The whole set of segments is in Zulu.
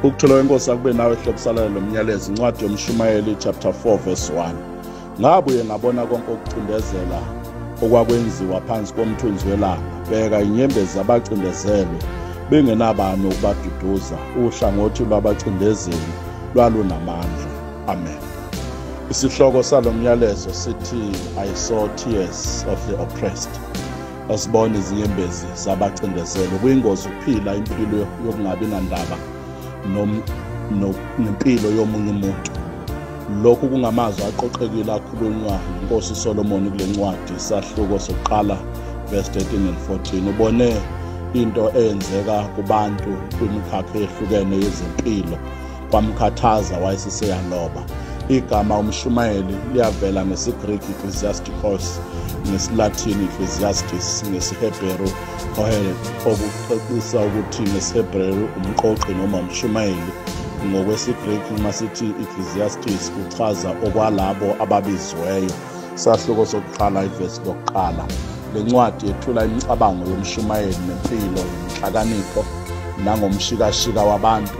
ukuthola kwenkosi akube nawe hlokusalala lo myalezo incwadi yomshumayeli chapter 4 verse 1 ngabuye ngabona konke okucindezela okwakwenziwa phansi komthunzi welanga bheka inyembezi zabacindezelwe bengenabani ukubaduduza uhlangothi lwabacindezeli lwalunamandla amen isihloko salo myalezo sithi i saw tears of the oppressed asibone izinyembezi zabacindezelo kuyingozi ukuphila impilo yokungabi nandaba nempilo yomunye umuntu lokhu kungamazwi aqoqekile akhulunywa inkosi solomoni kule ncwadi isahluko sokuqala verse 13 and 14 ubone into eyenzeka kubantu kwimikhakha eyehlukene yezempilo kwamkhathaza wayeseseyaloba igama umshumayeli liyavela ngesigriki ecclesiasticos ngesilathini ecclesiastis ngesihebheru ohele okucacisa ukuthi ngesihebheru umqoqi noma umshumayeli ngokwesigriki uma sithi ecclesiastis kuchaza okwalabo ababiziweyo sahluko sokuqala ivesi lokuqala le ncwadi yethula imicabango yomshumayeli nempilo yenhlakanipho nangomshikashika wabantu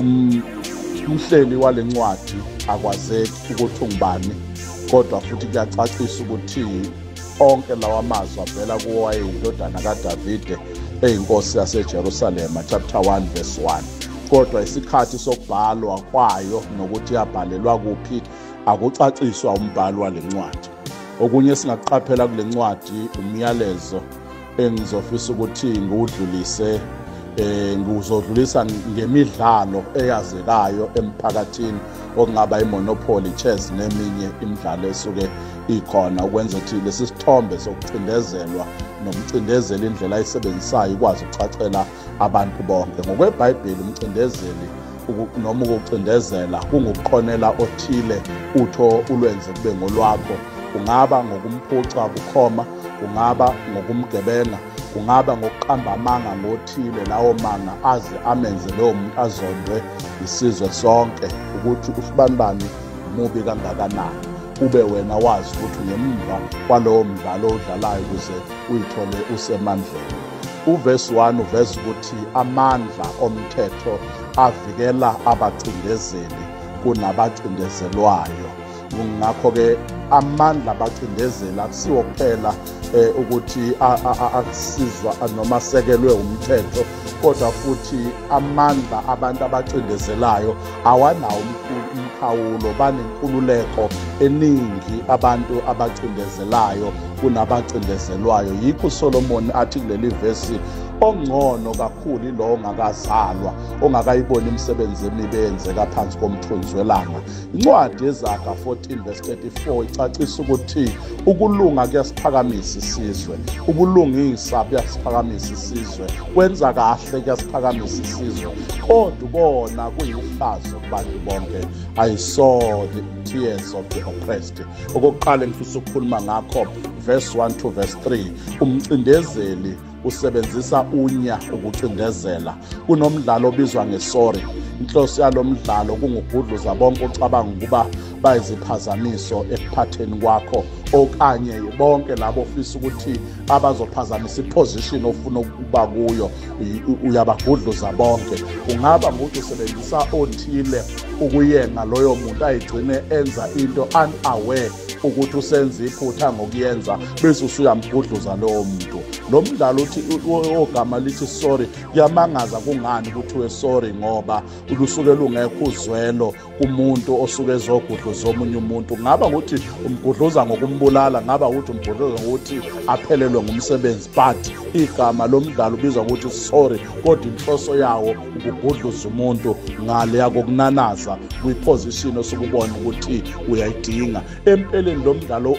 um umhleli wale ncwadi akwazeki ukuthi ungubani kodwa futhi kuyacacisa ukuthi onke lawa mazwi avela kuwo wayeyindodana kadavide eyinkosi yasejerusalema chapter 1 verse 1 kodwa isikhathi sokubhalwa kwayo nokuthi yabhalelwa kuphi akucaciswa umbhalo wale ncwadi okunye esingakuqaphela kule ncwadi umyalezo engizofisa ukuthi ngiwudlulise eh ngizodlulisa ngemidlalo eyazekayo emphakathini okungaba imonopoly chess neminye imidlalo esuke ikhona ukwenza ukuthi lesi sithombe sokucindezelwa nokucindezela indlela ayisebenzisayo ikwazi ukucacela abantu bonke ngokwebhayibheli umcindezeli noma ukucindezela kungukuqonela othile utho ulwenze kube ngolwakho kungaba ngokumphuca bukhoma kungaba ngokumgebenga kungaba ngokuqamba amanga ngothile lawo manga aze amenze lowo muntu azondwe isizwe sonke ukuthi usibanibani mubi kangakanani ube wena wazi ukuthi ngemva kwalowo mdlalo odlalayo ukuze uyithole usemandleni Uvesi 1 uveza ukuthi amandla omthetho avikela abacindezeli kunabacindezelwayo ngakho-ke amandla abacindezeli akusiwo kuphela eh, ukuthi akusizwa noma asekelwe umthetho kodwa futhi amandla abantu abacindezelayo awanawo umkhawulo banenkululeko eningi abantu abacindezelayo kunabacindezelwayo yikho uSolomon athi kuleli vesi ongcono kakhulu ilowo ongakazalwa ongakayiboni imisebenzi emibi eyenzeka phansi komthunzi welanga incwadi yezaga 14 verse 34 icacisa ukuthi ukulunga kuyasiphakamisa isizwe ubulungisa buyasiphakamisa isizwe kwenza kahle kuyasiphakamisa isizwe kodwa ubona kuyihlazo kubantu bonke ayisoni tears of the oppressed okokuqala engifisa ukukhuluma ngakho verse 1 to verse 3 umcindezeli usebenzisa unya ukucindezela kunomdlalo obizwa ngesori inhloso yalo mdlalo kungugudluza bonke ocabanga ukuba bayiziphazamiso ekuphatheni kwakho okanye bonke labo ofisa ukuthi abazophazamisa iposition ofuna ukuba kuyo uyabagudluza bonke kungaba ngukuthi usebenzisa othile ukuyenga loyo muntu ayigcine enza into unaware ukuthi usenza iphutha ngokuyenza bese usuyamgudluza lowo muntu lo mdlalo uthi ogama lithi sorry kuyamangaza kungani kuthiwe sorry ngoba lusuke lungekho uzwelo kumuntu osuke ezogudluza omunye umuntu ngaba ukuthi umgudluza ngokumbulala ngaba ukuthi umgudluza ngokuthi aphelelwe ngumsebenzi but igama lomdlalo ubizwa ukuthi sorry kodwa inhloso yawo ukugudluza umuntu ngale yakokunanaza kwiposition osukubona ukuthi uyayidinga empeleni lo mdlalo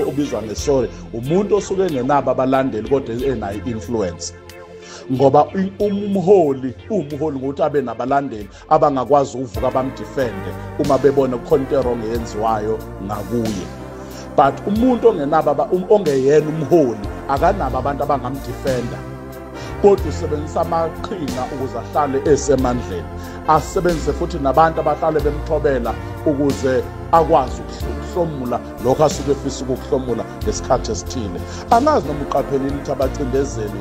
obizwa ngesorry umuntu osuke engenabo abalandeli kodwa enayo influence ngoba umholi uwumholi ngokuthi abe nabalandeli abangakwazi ukuvuka bamdefende uma bebona kukhona into erong eyenziwayo ngakuye but umuntu ongenaba um, ongeyena umholi akanabo abantu abangamdefenda kodwa usebenzisa amaqhinga ukuze ahlale esemandleni asebenzise futhi nabantu abahlale bemthobela ukuze akwazi ukuhlomula lokho asuke efisa ukukuhlomula ngesikhathi esithile angazi noma uqaphelile ukuthi abacindezeli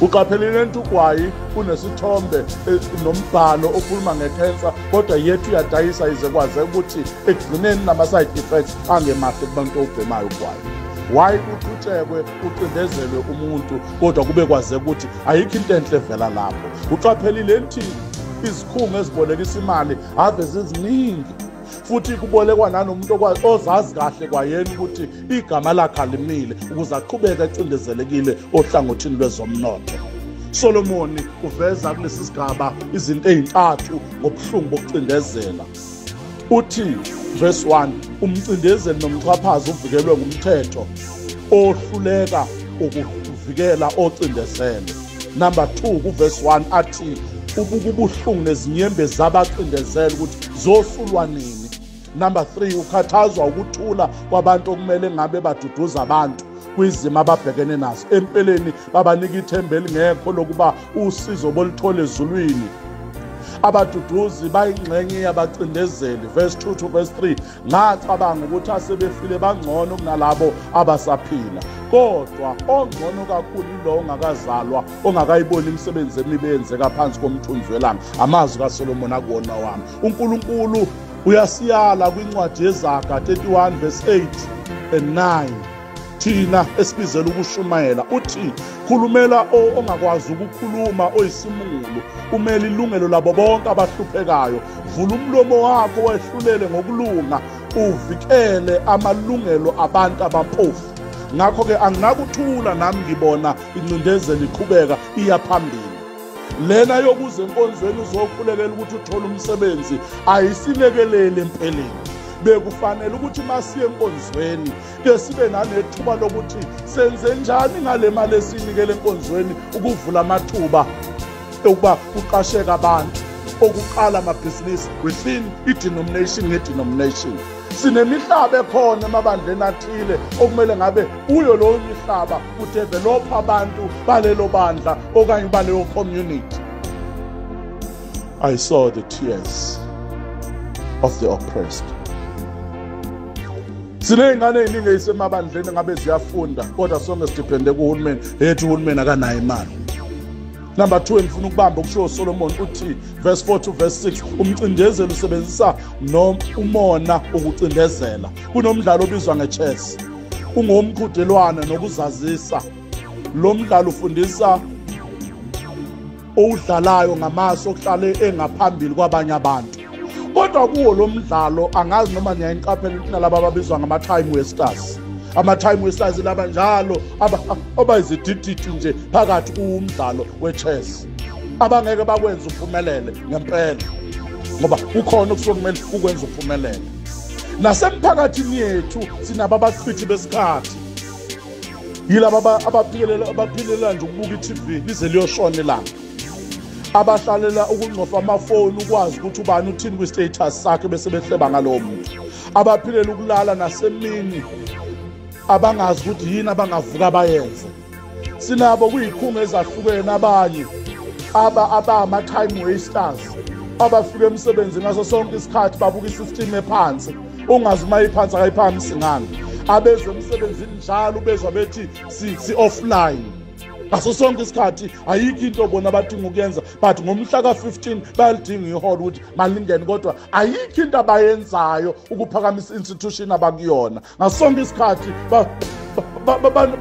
uqaphelile nto ugwayi kunesithombe eh, nombhalo okhuluma ngekhensa kodwa yethu uyadayisa ize kwaze ukuthi ekugcineni nama-side effects angemahle kubantu obhemayo ugwayi why uqhutshekwe ucindezelwe umuntu kodwa kube kwaze ukuthi ayikho into enhle evela lapho uqaphelile nthini izikhungo ezibolekisa imali ave ziziningi futhi kubolekwa nanomuntu okwazi ozazi kahle kwayena ukuthi igama lakhe alimile ukuze aqhubeke acindezelekile ohlangothini lwezomnotho Solomoni uveza kulesi sigaba izinto ezintathu ngobuhlungu bokucindezela uthi verse 1 umcindezeli nomxhaphazi uvikelwe ngumthetho ohluleka ukuvikela ocindezele number 2 kuvesi 1 athi ubuka ubuhlungu nezinyembe zabacindezela ukuthi zosulwa nini number 3 ukhathazwa ukuthula kwabantu okumele ngabe baduduza abantu kwizimo ababhekene nazo empeleni babanika ithemba elingekho lokuba usizo bolithole ezulwini abaduduzi bayingxenye yabacindezeli verse 2 to verse 3 ngacabanga ukuthi asebefile bangcono kunalabo abasaphila kodwa ongcono kakhulu yilowo ongakazalwa ongakayiboni imisebenzi emibi eyenzeka phansi komthunzi welanga amazwi kasolomoni akuwona wami unkulunkulu uyasiyala kwincwadi yezaga 31 verse 8 and 9 thina esibizela ukushumayela uthi khulumela ongakwazi ukukhuluma oyisimungulu umele ilungelo labo bonke abahluphekayo vula umlomo wakho wehlulele ngokulunga uvikele amalungelo abantu abampofu ngakho-ke anginakuthula nami ngibona incindezelo iqhubeka iya phambili lena yokuze enkonzweni uzokhulekela ukuthi uthole umsebenzi ayisilekeleli empeleni bekufanele ukuthi masiye enkonzweni ke sibe nanethuba lokuthi senze njani ngale mali esiyinikele enkonzweni ukuvula amathuba okuba kuqasheka abantu okuqala amabhizinisi within i-denomination nge-denomination sinemihlaba ekhona emabandleni athile okumele ngabe kuyo lowo mihlaba kudevelopha abantu balelo bandla okanye baleyo community i saw the tears of the oppressed siney'ngane ey'ningi eyisemabandleni ngabe ziyafunda kodwa sonke sidiphende kuhulumeni eyethi uhulumeni akanayo imali number 2 engifuna ukubamba okushiwo solomoni uthi verse 4 to verse 6 umcindezeli usebenzisa umona ukucindezela kunomdlalo obizwa nge-chess ungowomqhudelwane nokuzazisa lo mdlalo ufundisa owudlalayo ngamaso okuhlale engaphambili kwabanye abantu kodwa kuwo lo mdlalo angazi noma niyayiqaphela ukuthi nalaba ababizwa ngama-time wasters ama-time wasters laba njalo abayizidididi nje phakathi kuwumdlalo we-chess abangeke bakwenza uphumelele ngempela ngoba kukhona okusuke kumele ukwenza uphumelele nasemphakathini yethu sinabo abachithi besikhathi yilaba abaphilela abaphilela nje ukubuka i-tv lize liyoshona ilanga abahlalela ukungcofa amafoni ukwazi ukuthi ubani uthini kwi-status sakhe bese behleba ngalowo muntu abaphilela ukulala nasemini abangazi ukuthi yini abangavuka bayenze sinabo kuyikhunga ezahlukene abanye aba abama-time wasters abafika emsebenzini ngaso sonke isikhathi babuka i-system ephansi ungazi uma iphansi akayiphakamisi ngani abeze emsebenzini njalo bezwa bethi si-offline ngaso sonke isikhathi ayikho into bona abadinga ukuyenza but ngomhla ka-15 bayalidinga iholo ukuthi malingene kodwa ayikho into abayenzayo ukuphakamisa i-institution abakuyona ngaso sonke isikhathi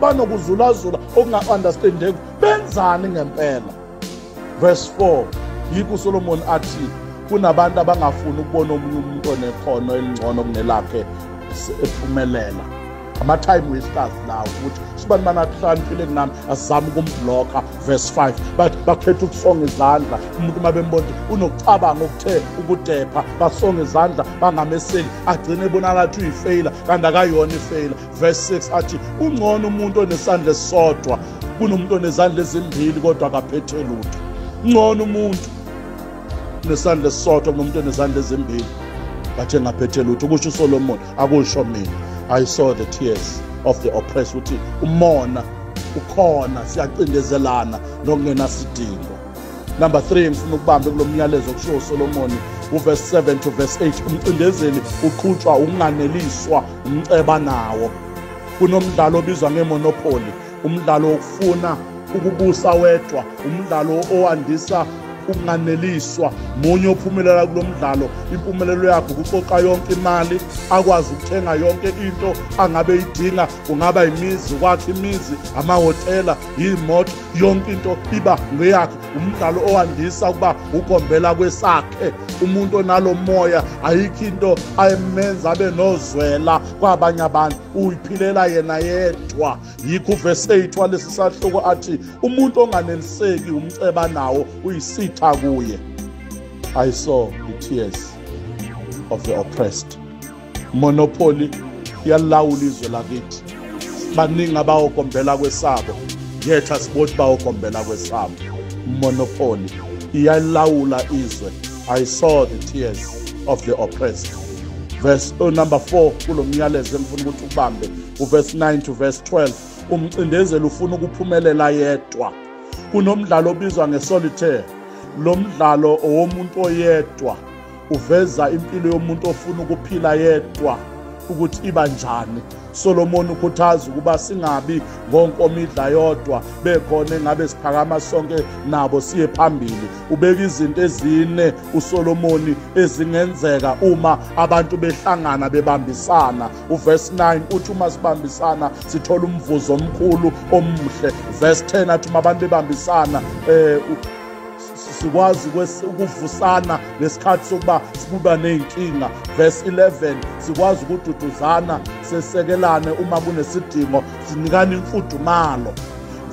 banokuzulazula okunga-understandeki benzani ngempela Verse 4 yikho uSolomon athi kunabantu abangafuni ukubona omunye umuntu onekhono elingcono kunelakhe ephumelela ama-time wasters lawo ukuthi sibani banakuhlaniphile kunami asizame ukumbhlokha verse 5 bathi bakhetha ukusonga izandla umuntu uma bembona ukuthi unokucabanga okuthe ukudepha basonga izandla bangameseli agcine ebonakala ukuthi uyifeyila kanti akayona ifeyila verse 6 athi ungcono umuntu onesandla esisodwa kunomuntu onezandla ezimbili kodwa akaphethe lutho ngcono umuntu nesandla esisodwa kunomuntu onezandla ezimbili but engaphethe lutho kusho usolomoni akusho mina i saw the tears of the oppressed uthi umona ukhona siyacindezelana nokungenasidingo Number 3 ngifuna ukubambe kulomyalezo kusho uSolomon uverse 7 to verse 8 umcindezeli uqhutshwa ukunganeliswa umceba nawo kunomdlalo obizwa ngemonopoly umdlalo wokufuna ukubusa wedwa umdlalo owandisa ukunganeliswa munye ophumelela kulo mdlalo impumelelo yakhe ukuqoqa yonke imali akwazi ukuthenga yonke into angabe idinga kungaba imizi kwakhe imizi amahhotela yiyimoto yonke into iba ngeyakhe umdlalo owandisa ukuba ugombela kwesakhe umuntu onalo moya ayikho into ayemenza abe nozwela kwabanye abantu uyiphilela yena yedwa yikho uvesi 8 walesi sahloko athi umuntu onganeliseki umceba nawo uyisitha kuye i saw the tears of the oppressed monopoly yalawula izwe lakithi baningi abawokombela kwesabo yetha sibothi bawokombela kwesabo monopoly iyalawula izwe i saw the tears of the oppressed verse oh, number 4 kulo myalezo engifuna ukuthi ubambe uverse 9 to verse 12 umcindezeli ufuna ukuphumelela yedwa kunomdlalo obizwa ngesolitaire lo mdlalo owomuntu oyedwa uveza impilo yomuntu ofuna ukuphila yedwa ukuthi iba njani Solomon ukhuthaza ukuba singabi ngonkomidla yodwa bekhona engabe siphakama sonke nabo siye phambili ubeka izinto ezine uSolomon ezingenzeka uma abantu behlangana bebambisana uverse 9 uthi uma sibambisana sithola umvuzo omkhulu omuhle verse 10 athi uma abantu bebambisana eh sikwazi ukuvusana ngesikhathi sokuba sibuba ney'nkinga verse 11 sikwazi ukududuzana sesekelane uma kunesidingo sinikane imfudumalo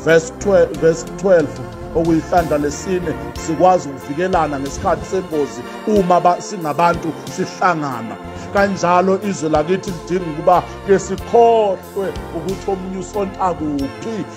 verse 12, verse 12 okuyihlandla lesine sikwazi ukuvikelana ngesikhathi sengozi uma singabantu sihlangana kanjalo izwe lakithi lidinga ukuba ke sikhohlwe ukuthi omunye usonta kuphi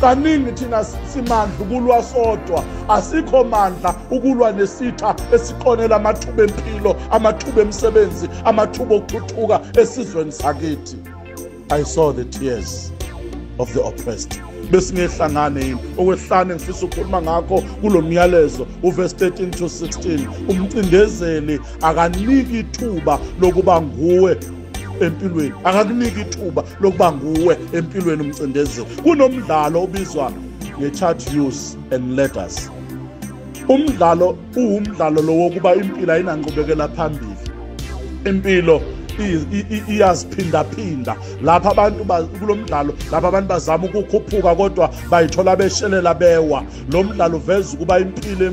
kaningi thina simandla ukulwa sodwa asikho mandla ukulwa nesitha esiqonela amathuba empilo amathuba emsebenzi amathuba okuthuthuka esizweni sakithi i saw the tears of the oppressed besingehlangane yini okwehlane ngifisa ukukhuluma ngakho kulo myalezo uverse 13 to 16 umcindezeli akaniki ithuba lokuba nguwe empilweni akakuniki ithuba lokuba nguwe empilweni umcindezeli kunomdlalo obizwa nge-chart use and letters umdlalo uwumdlalo lo wokuba impilo ayinanqubekela phambili impilo iyaziphindaphinda lapha abantu kulo mdlalo lapha abantu bazama ukukhuphuka kodwa bayithola beshelela bewa lo mdlalo uveza ukuba impilo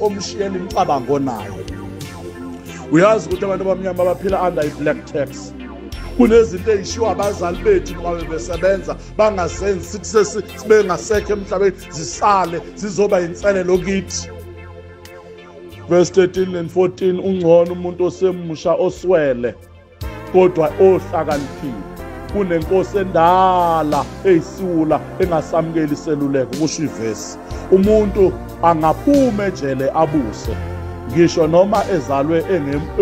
omshiyela imicabango nayo uyazi ukuthi abantu abamnyama baphila under i-black tax kunezinto eyishiwo abazali bethu noma bebesebenza bangazenzi sithi sesibengasekho emhlabeni zisale zizoba yinselelo kithi verse 13 and 14 ungcono umuntu osemusha oswele kodwa ohlakaniphile kunenkosi endala eyisiwula engasamukeli iseluleko kusho ivesi umuntu angaphuma ejele abuse ngisho noma ezalwe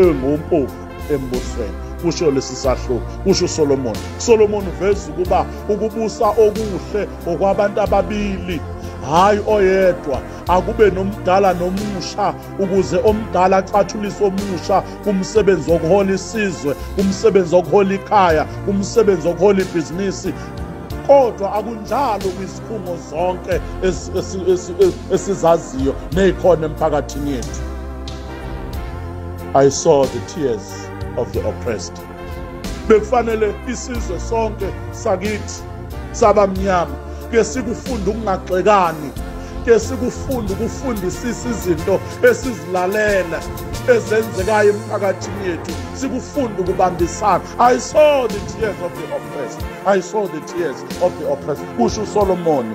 engompofu embusweni kusho lesi sahluko kusho uSolomon Solomon uveza ukuba ukubusa okuhle okwabantu ababili hayi oyedwa akube nomdala nomusha ukuze omdala acathulise omusha kumsebenzi wokuhola isizwe kumsebenzi wokuhola ikhaya kumsebenzi wokuhola ibhizinisi kodwa akunjalo kwizikhungo zonke esizaziyo nezikhona emphakathini yethu i saw the tears of the oppressed bekufanele isizwe sonke sakithi sabamnyama ke sikufunda ukungagxekani ke sikufunda ukufundisisa izinto esizilalela ezenzekayo emphakathini yethu sikufunda ukubambisana i saw the tears of the oppressed i saw the tears of the oppressed kusho usolomoni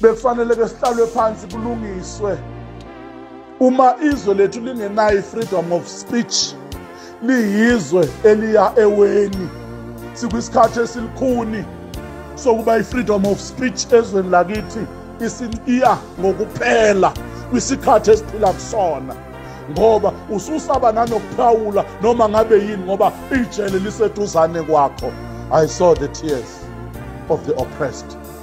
bekufanele ke sihlalwe phansi kulungiswe uma izwe lethu lingenayo i-freedom of speech liyizwe eliya eweni sikwisikhathi esilikhuni sokuba i-freedom of speech ezweni lakithi isiya ngokuphela kwisikhathi esiphila kusona ngoba ususaba nanokuphawula noma ngabe yini ngoba ijele liseduzane kwakho i saw the tears of the oppressed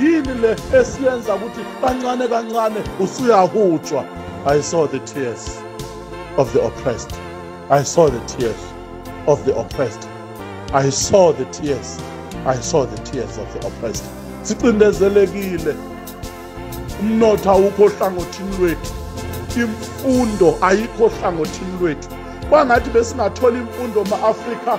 yini le esiyenza ukuthi kancane kancane usuyahutshwa i saw the tears of the oppressed i saw the tears of the oppressed i saw the tears i saw the tears of the oppressed sicindezelekile umnotho awukho ohlangothini lwethu imfundo ayikho ohlangothini lwethu kwangathi besingathola imfundo ma-afrika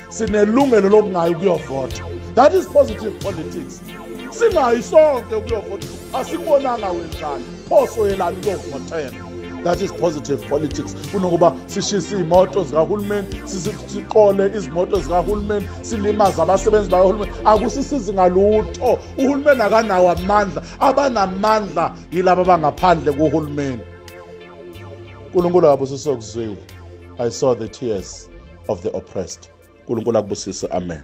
sinelungelo lokungayi ukuyovota that is positive politics singayi sonke ukuyovota asikubonanga wenzani pho soyelani ukuyovotela that is positive politics kunokuba sishise iy'moto zikahulumeni siqole izimoto zikahulumeni silimaze abasebenzi bakahulumeni akusisizi ngalutho uhulumeni akanawo amandla abanamandla yilaba abangaphandle kuhulumeni unkulunkulu akabusisokuzwile i saw the tears of the oppressed unkulunkulu akubusise amen